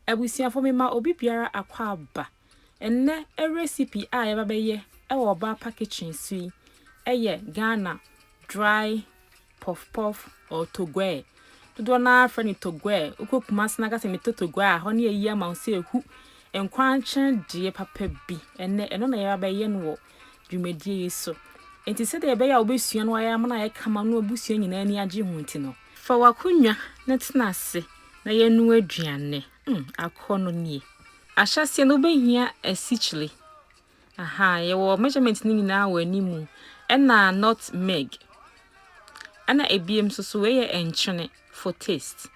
Abusuafo mema obi biara akwaaba. Ɛnnɛ recipe a yɛba bɛyɛ wɔ Ɔbaapa Kitchen so yi yɛ Ghana dry puff puff or togoɛ. Dodoɔ no ara frɛ no togoɛ. Wokɔ Kumasi na ka sɛ metɔ togoɛ a, hɔ no yɛyi ama wo sɛ ɛhu nkwankye deɛ papa bi. Ɛnnɛ ɛno na yɛba bɛyɛ no wɔ dwumadie yi so. Enti sɛdeɛ ɛbɛyɛ a wobɛsua no ayɛ ama no ayɛ kama no abusua nyinaa ani agye ho nti no, fa w'akonnwa na tena ase na yɛnoa aduane. Mm, akɔnnɔ nie. Ahyɛaseɛ no wobɛhia asikyire. Aha, yɛwɔ measurement no nyinaa wɔ anim ɛna not meg. Ɛna ebiem nso so wei yɛ nkyene for taste.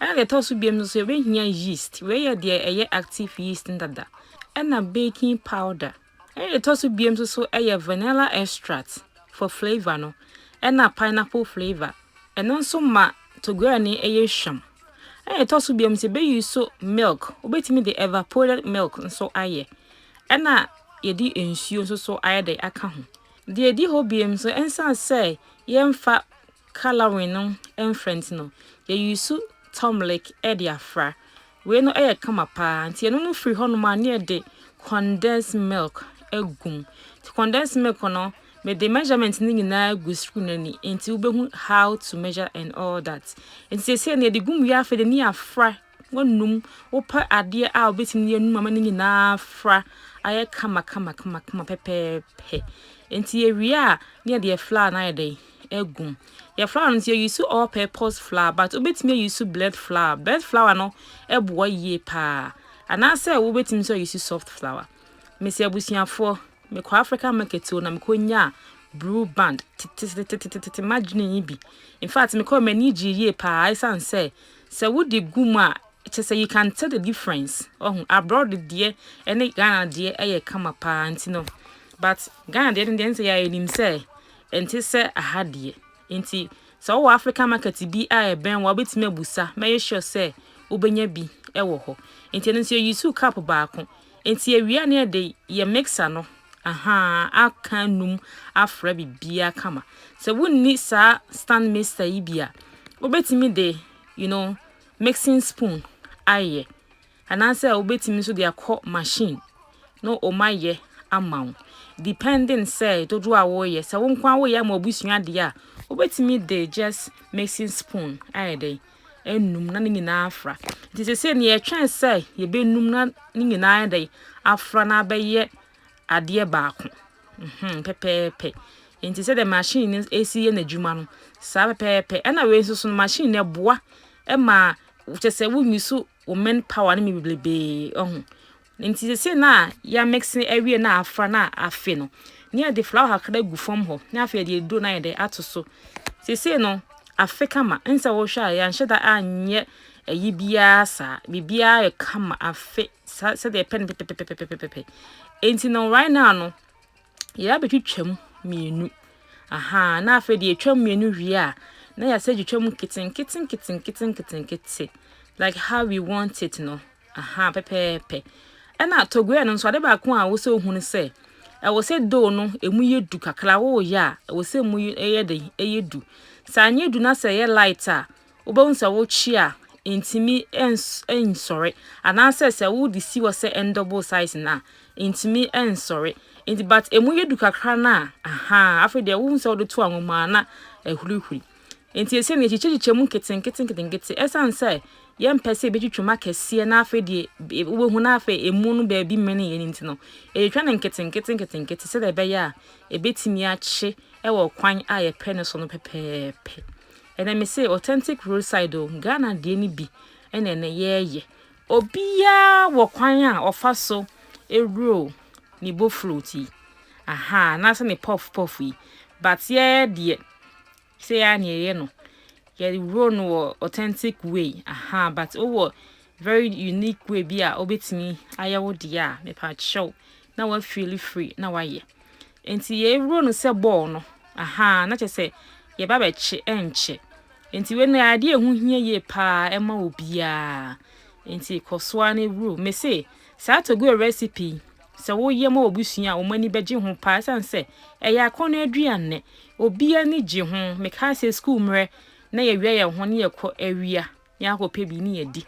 Ɛna deɛ ɛtɔ so biom nso yɛbɛhia yeast, wei yɛ deɛ ɛyɛ active yeast no dada, ɛna baking powder. Ɛna deɛ ɛtɔ so biom nso so ɛyɛ vanilla extract for flavour no, ɛna pineapple flavour, ɛno nso ma togoyɛ no ɛyɛ hwam. Ɛna deɛ ɛtɔ so biom nso yɛbɛyi so milk, wobɛtumi de evaporated milk nso ayɛ, ɛna yɛde nsuo nso so ayɛ dɛ aka ho. Deɛ ɛdi hɔ biom nso ɛnsan sɛ yɛmfa Colouring no mfrɛ nti no yɛ use turmlic de afra. Wei no yɛ kama paa nti yɛno no firi hɔnom a ne yɛde condensed milk agu mu. Nti condensed milk no mede measurement no nyinaa agu screen ani nti wobɛhu how to measure and all that. Nti seesei no yɛde gu mu wie afei de ne yɛafra Wonum, wopɛ adeɛ a wobɛtumi de anum ama no nyinaa afra ayɛ kama kama kama kama pɛpɛɛpɛ. Nti yɛwie a ne yɛde yɛ flour no ayɛ dɛn agum. Yɛ flour no nso yɛ use all purpose flour but wobɛtumi ayi so blend flour. Blend flour no ɛboa yie paa. Anaasɛ wobɛtumi nso ayi so soft flour. Mesi abusuafoɔ mekɔ African market o na mekɔ nyaa blue band tetetetetetete madwene yi bi. In fact mekɔ m'ani gyee yie paa ɛsiane sɛ Sɛ wode gu mu a kyerɛ sɛ you can tell the difference wahu, abroad deɛ ɛne Ghana deɛ yɛ kama paa nti no but Ghana deɛ no deɛ nsɛ yɛ a yɛnim sɛ ɛnte sɛ aha deɛ nti sɛ wowɔ African market bi a ɛbɛn wa wobɛtumi abusa mɛyɛ sure sɛ wobɛnya bi wɔ hɔ nti ɛno nso yɛ use cup baako Enti awia ne ɛde yɛ mixer no ahaa aka num afra bibia kama sɛ wonni saa stand mixer yi bi a wobɛtumi de you know mixing spoon ayɛ anaasɛ wobɛtumi nso de akɔ machine na ɔma yɛ ama wo depending sɛ dodoɔ a woyɛ sɛ wo nko a woyɛ ama wabusua deɛ a wobɛtumi de just mixing spoon ayɛ dɛn anum na ne nyinaa afra. Nti sese nea yɛtwɛn sɛ yɛbɛnum na ne nyinaa ayɛ dɛ afra na abɛyɛ adeɛ baako. Mhm, pɛpɛɛpɛ. Nti sɛ dɛ machine no esi yɛ n'adwuma no, saa pɛpɛɛpɛ. Ɛna wei nso so no machine no ɛboa ɛma kyɛ sɛ wonni so wo men power no mi bebrebe ɛho. Enti sese na yɛamekse awie na afra na afe no, na yɛde flawa kakra gu fam hɔ na afei yɛde aduro na yɛde ato so. Sese no afe kama, nsa wɔhwɛ a yɛanhyɛ da anyɛ ayi biara saa. Biribiara yɛ kama afe sɛdeɛ yɛpɛ no pɛpɛpɛpɛpɛpɛ. Enti no right now no yɛ abɛtwitwam mmienu. Aha, na afei deɛ yɛtwam mmienu wie a na yɛasɛ twitwam nketenkete nketenkete nketenkete like how we want it no. Ahaa, pɛpɛɛpɛ. Ɛna togoɛ no nso, ade baako a ɛwɔ sɛ ohu ne sɛ, ɛwɔ sɛ dough no emu yɛ du kakra. Woyɛ a, ɛwɔ sɛ emu yɛ den, ɛyɛ du. Sɛ anyɛ du na sɛ ɛyɛ light a, wobɛhu sɛ wokye a ntumi nsɔre. Anaasɛ sɛ wode si hɔ sɛ ɛndɔbo size no a, ntumi nsɔre. Nti but emu yɛ du kakra no a, ahaa, afei deɛ wohu sɛ wode to anwa mu a na ahurihuri. Enti esiane yɛkyekyɛkyekyɛ mu nketenketenketenkete, esiane sɛ yɛmpɛ sɛ yɛbɛtwitwa mu akɛseɛ na afei deɛ e, wobɛhu na afei emu no baabi mmene yɛn nti no, yɛtwitwa no nketenketenketenkete sɛdeɛ ɛbɛyɛ a ɛbɛtumi akye wɔ kwan a yɛpɛ no so no pɛpɛɛpɛ. Ɛnɛ me se authentic roadside o, Ghana deɛ no bi ɛna ɛnɛ yɛɛyɛ. Obiara wɔ kwan a ɔfa so ɛwuro ne boflot yi, aha, anaasɛ ne pɔf pɔf yi, but yɛɛ deɛ Sɛ yɛ a na yɛyɛ no, yɛworɔ no wɔ authentic way. Aha, but wowɔ very unique way bi a wobɛtumi ayɛ wo deɛ a, mepa kyɛw na wafeeli free na wayɛ. Nti yɛworɔ no sɛ bɔɔl no. Aha, na kyɛ sɛ yɛba bɛkye ɛnkyɛ. Nti wei no adeɛ ɛho hia yie paa ɛma obiara. Nti kɔ so ara na ɛwuro. Me se, saa togoe recipe Sɛ woyɛ ma obi sua a, wɔn ani bɛgye ho paa esiane sɛ ɛyɛ akɔnnɔ aduane. Obiara ani gye ho. Mekae sɛ sukuu mmerɛ na yɛawia yɛn ho na yɛkɔ awia na yɛakɔpɛ bi ne yɛadi.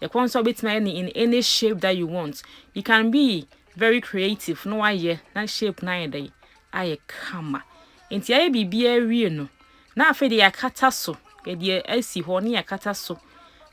Ɛkwan so a wobɛtumi ayɛ no in any shape that you want. You can be very creative na woayɛ na shape no ayɛ dɛn? Ayɛ kama. Enti ayɛ biribiara wie no, Na afei deɛ yɛakata so, yɛde asi hɔ na yɛakata so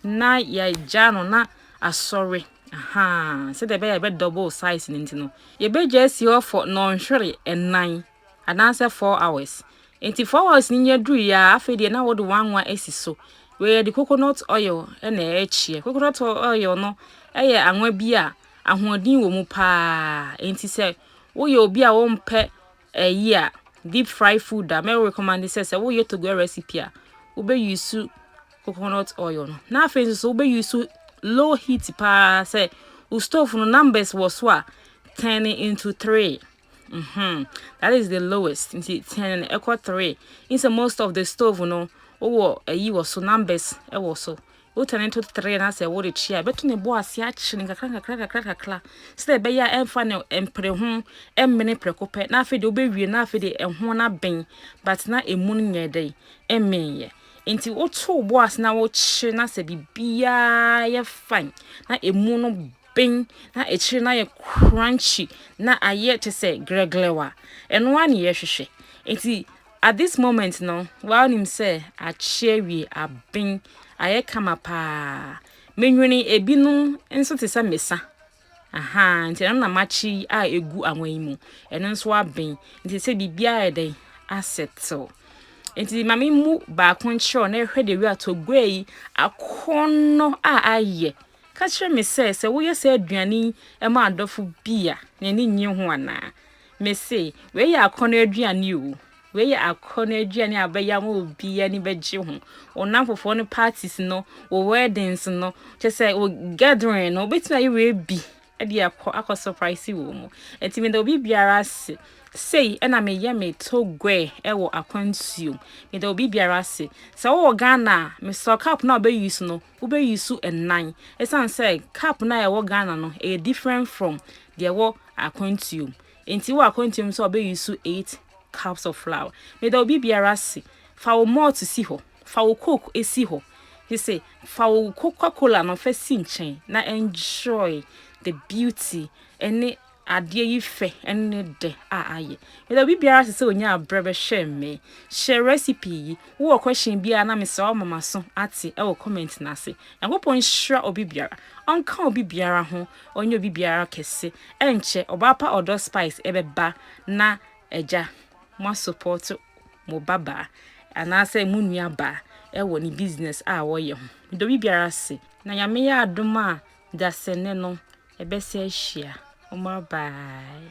na yɛagya no na asɔre. Aha, sɛdeɛ ɛbɛyɛ ɛbɛ double size no nti no, yɛbɛgya asi hɔ for nnɔnhwere nnan anaasɛ four hours. Nti four hours no nya duru yɛ a, afei deɛ na wɔde wanwa asi so. Wei yɛde coconut oil na ɛrekyeɛ. Coconut oil no yɛ anwa bi a ahoɔden wɔ mu paa. Nti sɛ woyɛ obi a wompɛ Ɛyɛ a, deep fry food a, mɛ recommend sɛ sɛ woyɛ togoɛ recipe a, wobɛ use coconut oil no. Na afei nso so wobɛ use low heat paa sɛ wo stove no numbers wɔ so a, turn it into three. Mm -hmm. That is the lowest. Nti turn no ɛkɔ three. Instead most of the stove no, wowɔ ayi wɔ so, numbers ɛwɔ so. Wotwa ne ntototeree na sɛ worekyia a, ɛbɛto ne bo ase akyere no kakrakakrakakrakraka sɛdeɛ ɛbɛyɛ a ɛmfa ne mpere ho mmene prɛko pɛ na afei deɛ wobɛwie na afei deɛ ɛho no aben but na ɛmu no nyɛɛ dɛn ɛmenyɛ. Nti woto wo bo ase na wokyere na sɛ biribiara yɛ fine na ɛmu no ben na akyire no ayɛ crunchy na ayɛ te sɛ grɛglɛw a ɛno ara ne yɛhwehwɛ. Nti At this moment no, waa nim sɛ akye awie, aben, ayɛ kama paa. Menwene ebinom nso te sɛ mesa. Aha, nti ɛno na makye yi a egu awan yi mu. Ɛno nso aben. Nti sɛ biribiara ayɛ dɛn asettle. Nti ma me mu baako nkyerɛw na ɛhwɛ de wia togua yi akɔnnɔ a ayɛ. Ka kyerɛ me sɛ sɛ woyɛ sɛ aduane yi ma adɔfo bi a, n'ani nnye ho anaa. Mese, wei yɛ akɔnnɔ aduane o. Wei yɛ akɔnnɔ aduane a bɛyɛ ama obi ani bɛgye ho. Wo nnamfofoɔ no parties no, wo weddings no, kyɛ sɛ wo gathering no, wobɛtumi ayɛ wei bi de akɔ akɔ surprise wɔ mu. Nti meda obi biara ase. Sei ɛna meyɛ me togoɛ ɛwɔ akwantuom. Meda obi biara ase. Sɛ wowɔ Ghana a, mesɔ cup no a wobɛ use no, Wobɛ use nnan ɛsiane sɛ cup no a ɛwɔ Ghana no ɛyɛ different from deɛ ɛwɔ akwantuo mu nti wɔ akwantuo mu sɛ ɔbɛ use eight cups of flour meda obi biara ase fa wo malt si hɔ fa wo coke esi hɔ te se fa wo coca cola no fa si nkyɛn na enjoy the beauty ɛne adeɛ yi fɛ ne dɛ a ayɛ. Mede obi biara se sɛ onya abrɛ bɛhwɛ me hyɛ recipe yi. Wowɔ question biara na mesrɛ wo ma maso ate ɛwɔ comment no ase. Nyankopɔn nhyira obi biara, ɔnka obi biara ho, ɔnyɛ obi biara kɛse. Ɛnkyɛ ɔbaa pa ɔdɔ spice ɛbɛba na agya moa support mo ba baa anaasɛ mo nua baa ɛwɔ ne business a wɔyɛ ho. Meda obi biara ase na Nyame yɛ adom a dasene no Ɛbɛsɛ ahyia. Ɔmo abae.